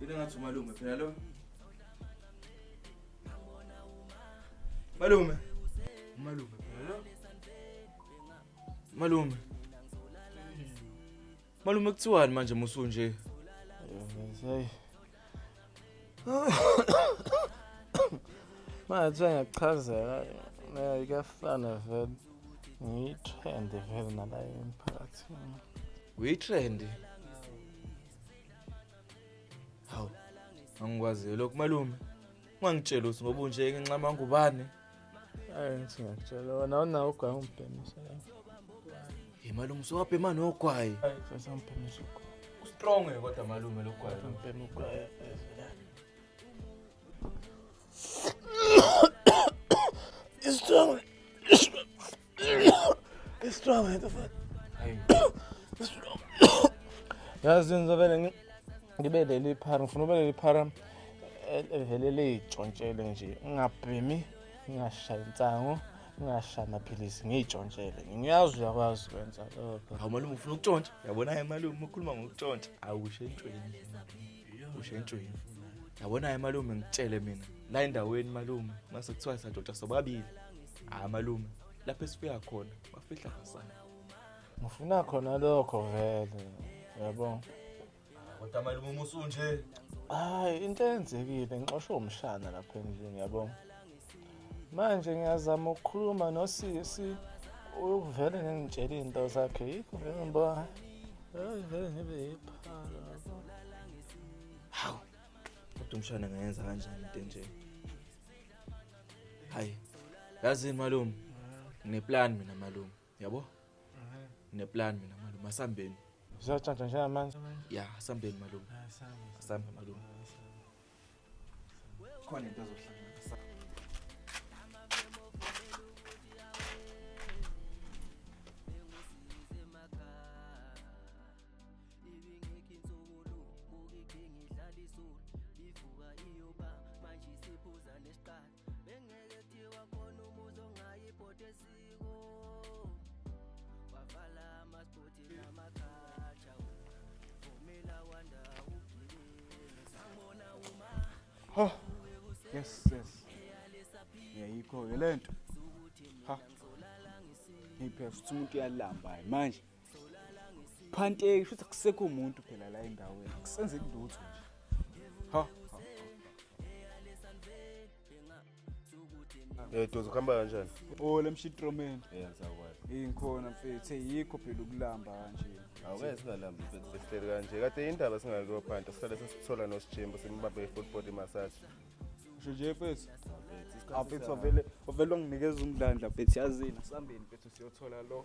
Yena ngathi umalume phela lo. Malume. Malume phela lo. Malume. Malume kuthiwani manje musu nje? Hey. Manje ngiyakuchazela nayo kuyafana vele. Ngiyithende vele nala emphakathini. Uyitrend. hawu angikwaziyo lokhu malume ungangitsheli ukuthi ngoba unje nginxama ngubane hayi ngithi ngiyakutshela wena awunawo ugwayi ungibhemisa ye malume usowabhema nogwayi sasangibhemisa ugwayi ustrong kodwa malume lo gwayi ngibhema ugwayi istrong Strong into fuck. Yazi ngizovele ngi ngibe leli phara ngifuna ube leli phara evele leyitshontshele nje ngingabhemi ngingashayi insango ngingashayi amaphilisi ngiyitshontshele ngiyazi uyakwazi ukwenza lokho Hawu malume ufuna ukutshontsha. Yabona ke malume ukhuluma ngokutshontsha. Awusho entshweni. kusho injwini yabona-ke malume ngitshele mina la endaweni malume mase kuthiwa sadoda sobabili hhayi malume lapho esifika khona bafihla kasana ngifuna khona lokho vele yabo kodwa malume uma usunje hayi into eyenzekile ngixoshwe umshana lapha endlini yabo manje ngiyazama ukukhuluma nosisi uvele ningitshela iy'nto zakhe yikho vele ngiba vele ngibe yiphara hawu kodwa umshana ngayenza kanjani into enje hayi yazini malume ngineplan mina malume yabo neplan mina malume asambeni Zizatshantshwa njengamanje. ya asambeni malume asambe malume khona into azohlanganisa Ivuka iyoba manje isiphuza nesiqala bengeke thiwa khona umuzi ongayi ibhodi esiko wavala amasibhodi namakhatsha vumela wanda ugilile sangibona uma ho yes yes yayikho-ke le nto ha ngiphe futhi umuntu uyalamba manje phanteki shuthi kusekho umuntu phela la endaweni kusenzeki lutho nje ha Eh dozo kuhamba kanjani? Oh lemshitromen. Yeah ngizakwazi. Ingikhona mfethu yikho phela ukulamba kanje. Awukeze singalambi mfethu sihleli kanje. Kade indaba singakho phanta sihlale sesithola nosijembo simbambe full body massage. Usho nje mfethu. Mfethu ah, ovele ovele onginikeza umdlandla mfethu yazini sambeni mfethu siyothola lo.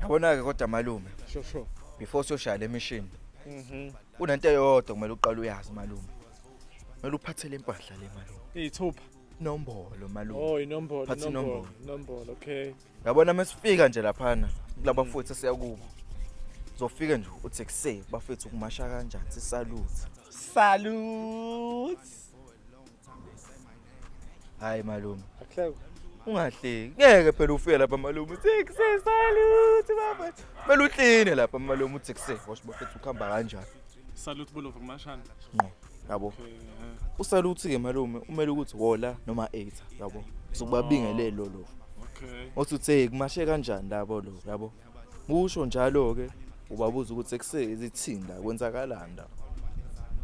Yabona-ke kodwa malume sure sure before siyoshaya le mishini mhm. kunento eyodwa kumele uqale uyazi malume kumele uphathele impahla le malume iyithupha nombolo malume oh inombolo phatha inombolo inombolo okay yabona mesifika nje laphana kulaba mfowethu siyakubo zofika nje uthi kuse bafethu kumasha kanjani sisalute salute hayi malume akuhleke ungahleki ngeke phela ufike lapha malume six salute baba kumele uhlini lapha malume uthi kuse washo bafethu ukuhamba kanjani salute bulova kumashana ngqo yabo okay, uh, usaluthi ke malume umele ukuthi wola noma 8 yabo sokubabingelelo lo okay. othi uthe kumashe kanjani labo lo yabo Busho njalo ke ubabuza ukuthi ekusezi thinda kwenzakalanda.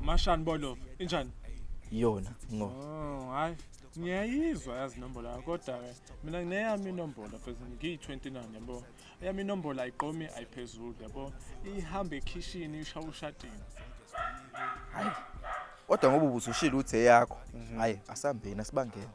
Mashani bolo injani? Yona ngo. Oh hayi ngiyayizwa yazi inombolo yakho kodwa ke mina ngineyami inombolo phezulu ngiyi-29 yabo eyami inombolo ayiqomi ayiphezulu yabo ihambe ekhishini isha ushatini hayi kodwa ngoba ubusushile ukuthi eyakho hayi asambeni asibangeni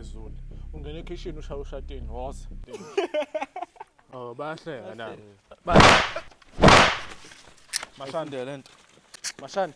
Zulu. Ungena ekhishini ushaya ushatini woza. Oh bayahleka na. Mashande lento. Mashande.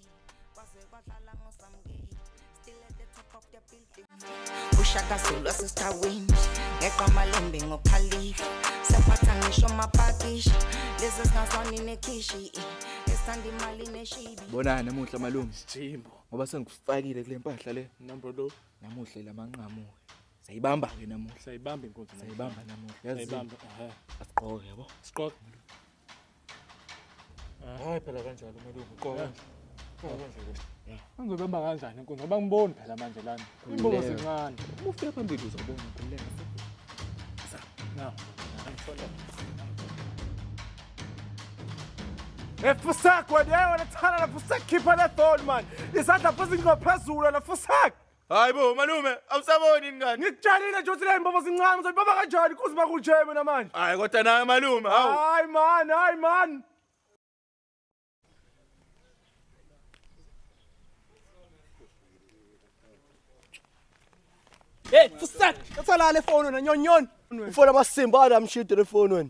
Baze badlala ngosamkile still at the top of the building ushaka zulu asesitawini ngeqa amalembe ngokhalifa sephatha ngisho amapakisha lezi zingazwani nekhishi esithanda imali neshibi Bonani namuhla malume Jimbo. ngoba sengikufakile kule mpahla le. Number lo Namuhla lamanqamu. Sayibamba ke namuhla. sayibamba inkonzo. Sayibamba namuhla. Yazi Sayibamba. Ehe. asigqoke yabo. Siqoqa. Hayi phela kanjalo kumele ubuqoke. Angibamba kanjani inkunzi ngoba ngiboni phela manje lana. Imbobo zincane. Uma ufika phambili uzobona ukhululeka. Na. Efusak wena wena thana lapho usekhipha le phone man. Isandla phezu ngophezulu lapho usak. Hayi bo malume awusaboni yini kanti? Ngikutshalile nje uthi le mbobo zincane uzoyibaba kanjani kuze bakuje mina manje. Hayi kodwa nawe malume hawu. Hayi man, hayi man. Hey, fusat, utholale phone wena nyonyon. Ufona amasimba ana mshidi le phone wena.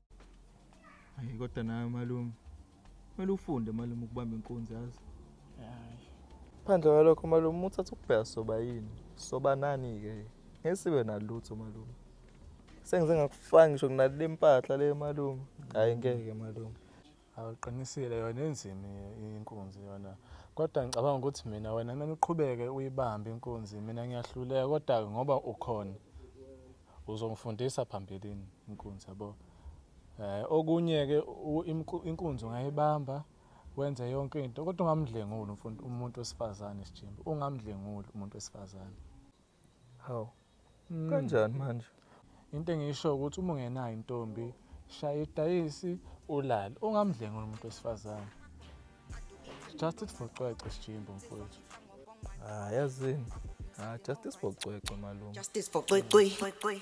Hayi kodwa nawe malume. Kumele ufunde malume ukubamba inkunzi yazi. Phandle kwalokho malume uthatha ukubheka soba yini? Soba nani ke? Ngesibe nalutho malume. Sengize ngakufaka ngisho kunale mpahla le malume. Hayi ngeke malume. Awuqinisile yona enzima inkunzi yona. Kodwa ngicabanga ukuthi mina wena kumele uqhubeke uyibambe inkunzi. Mina ngiyahluleka kodwa ngoba ukhona uzongifundisa phambilini inkunzi yabo. Eh okunye ke inkunzi ungayibamba wenze yonke into kodwa ungamdlenguli umuntu wesifazane sijimba. Ungamdlenguli umuntu wesifazane. Hawu. Mm. Kanjani manje? Into engisho ukuthi uma ungenayo intombi shaya idayisi ulale ungamdlengi umuntu wesifazane. Just it for cwece sijimbo mfowethu. Ah yazini. Ah justice for cwece malume. Justice for cwece.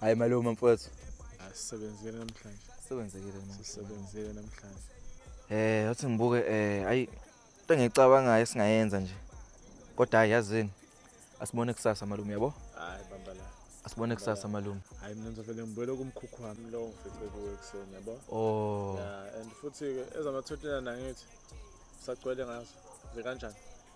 hayi malume mfowethu asisebenzile namhlanje sisebenzekile namhlanje sisebenzile namhlanje eh uthi ngibuke eh ayi into engicabangayo esingayenza nje kodwa hayi yazini asibone kusasa malume yabo hayi bamba la asibone kusasa malume hayi mina ngizovele ngibuyele kumkhukhu wami lo ngifice kuwe ekuseni yabo oh yeah and futhi ke ezama-29 angithi sagcwele ngazo zikanjani